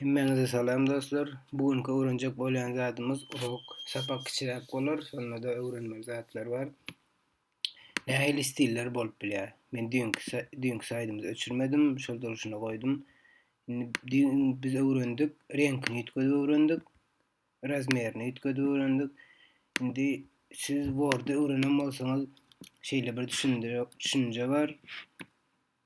Hemmäňize salam dostlar. Bu günki öwrenjek bolýan zadymyz urok, sapak kiçiräk bolar, şonda-da öwrenmeli zatlar bar. Nähili stiller bolup bilýär? Men düýnki düýnki saýdymyzy öçürmedim, şol durşuna goýdum. Indi düýn biz öwrendik, reňkini üýtgedip öwrendik, razmerini üýtgedip öwrendik. Indi siz Word-y öwrenen bolsaňyz, şeýle bir düşünje bar.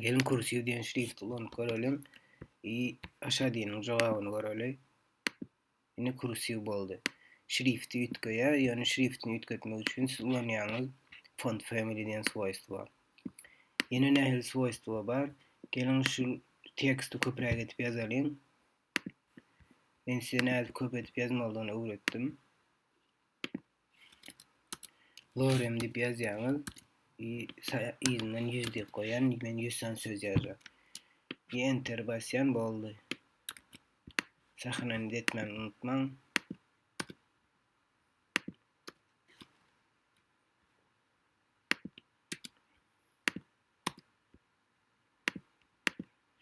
Gelin kursiv diýen şrifti ulanyp göreliň. I aşa diýeniň jogabyny göreli. Indi kursiv boldy. Şrifti üýtgeýär, ýöne şriftini üýtgetmek üçin siz ulanýaňyz font family diýen swoýstwa. Ýene nähili swoýstwa bar? Gelin şu teksti köpräk edip ýazalyň. Men size nädip köp edip ýazmalydygyny öwretdim. Gorem diýip ýazýaňyz. I yzyndan 100 diýip goýan, men 100 sany söz ýazjak. I enter basýan boldy. Sahnany etmän unutmaň.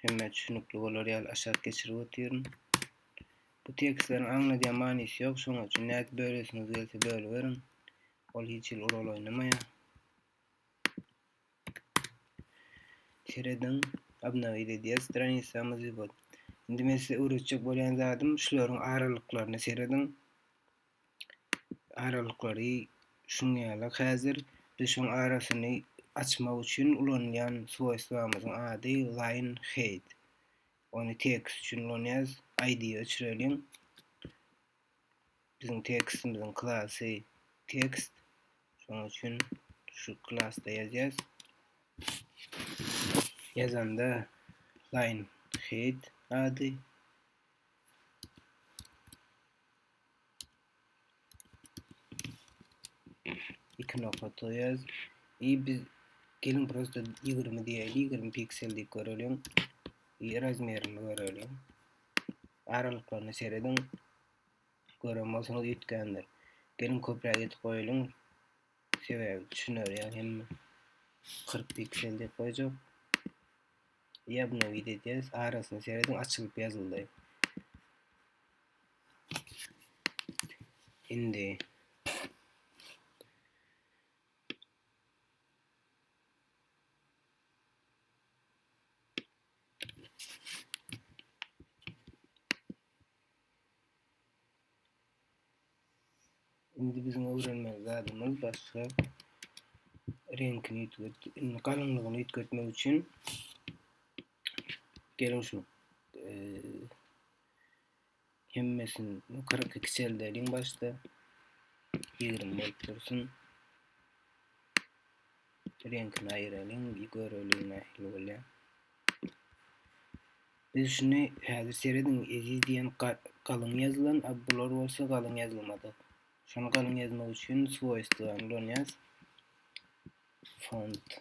Hemmä düşünikli bolar ýaly aşak geçirip otyryn. Bu tekstleriň aňladýan manysy ýok, şonuň üçin nädip bölesiňiz gelse bölüberiň. Ol hiç hili rol oýnamaýar. Serediň, obnowit edýär stranisamyzy. Indi men size öwretjek bolýan zadym şularyň aralyklaryna serediň. aralyklary şuň ýaly häzir düşüň arasyny açmak üçin ulanylýan swoýstwamyzyň ady line height ony tekst üçin ulanýarys id öçüreliň biziň tekstimiziň klasy tekst şonuň üçin şu klasda ýazýarys ýazanda line height ady iki nokta toyaz i biz gelin prosta 20 diýeli 20 piksel diýip göreliň i razmerini göreliň aralyklaryny serediň gören bolsaňyz üýtgändir gelin köpräk etip goýalyň sebäbi düşüner ýa hem 40 piksel diýip goýjak ýa buna wideo diýäs arasyny serediň açylyp ýazyldy Indi Indi biziň öwrenmeli zadymyz başga reňkini üýtget, indi galyňlygyny üýtgetmek üçin geliň şu e, Hemmesini 42 çeldeliň başda. 20 bolup dursun. Reňkini aýyralyň, göreliň nähili bolýar. Biz şuny häzir serediň, eziz diýen galyň ýazylan, a bular bolsa galyň ýazylmady. Şony galyň ýazmak üçin swoýstwany ulanýas. Font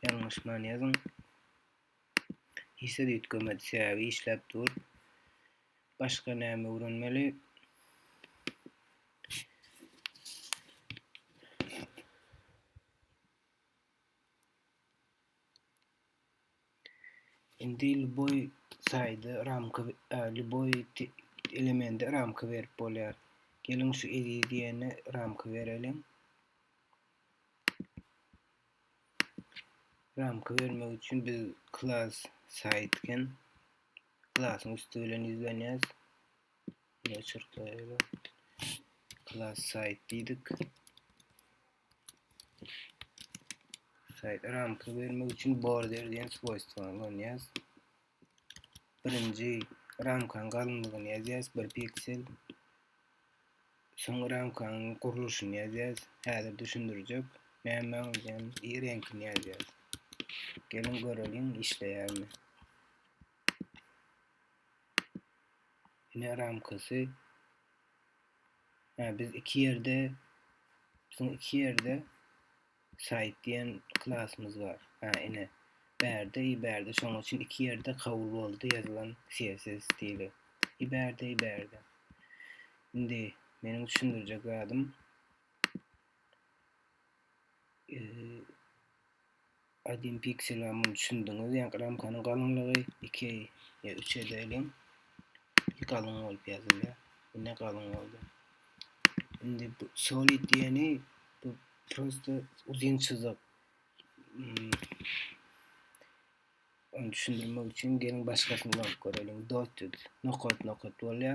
Ýalňyş many ýazyň. Işsiz üýtgemedi, sebäbi işläp dur. Başga näme öwrenmeli? Indi lýuboý saýda ramka lýuboý elemende ramka berip bolýar. Geliň şu eziz diýene ramka bereliň. Ramka bermek üçin biz klas saýtken klasyň üsti bilen ýüzlenýäs. Ýa çyrtlaýaly. Klas saýt diýdik. Şaýat ramka bermek üçin border diýen swoýstwa ulanýas. Birinji ramkanyň galynlygyny ýazýas, 1 piksel. Soňra ramkanyň gurluşyny ýazýas. Häzir düşündirjek. Näme diýen i reňkini ýazýas. Gelin göreliň işleýärmi. Ine ramkasy Yani biz iki yerde bizim iki yerde site diyen klasımız var. Ha ine berde i berde şoň üçin iki yerde kabul boldy yazılan CSS stili. I berde i berde. Indi meniň düşündirjek zadym ee, 1 piksel bar muny düşündiňiz ýa ramkanyň galyňlygy 2 ýa 3 edeýin galyň bolup ýazylýa indi galyň boldy indi bu solid diýeni bu prosta uzyn çyzyk hmm. onu düşündirmek üçin geliň başgasyny bolup görelim dotted nokat nokat bolýa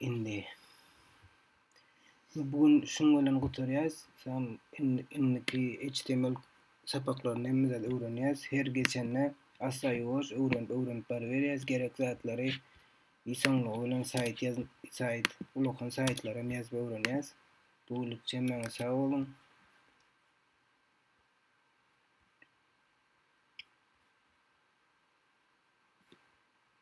Indi bu gün şuň bilen gutarýarys. Sen indiki HTML sapaklaryny hem zat öwrenýäs. Her geçende asla ýuwaş öwrenip öwrenip baryberýäs. Gerek zatlary isoňlygy bilen saýt ýaz saýt ulakan saýtlary hem ýazyp öwrenýäs. Bu günlükçe maňa sag boluň.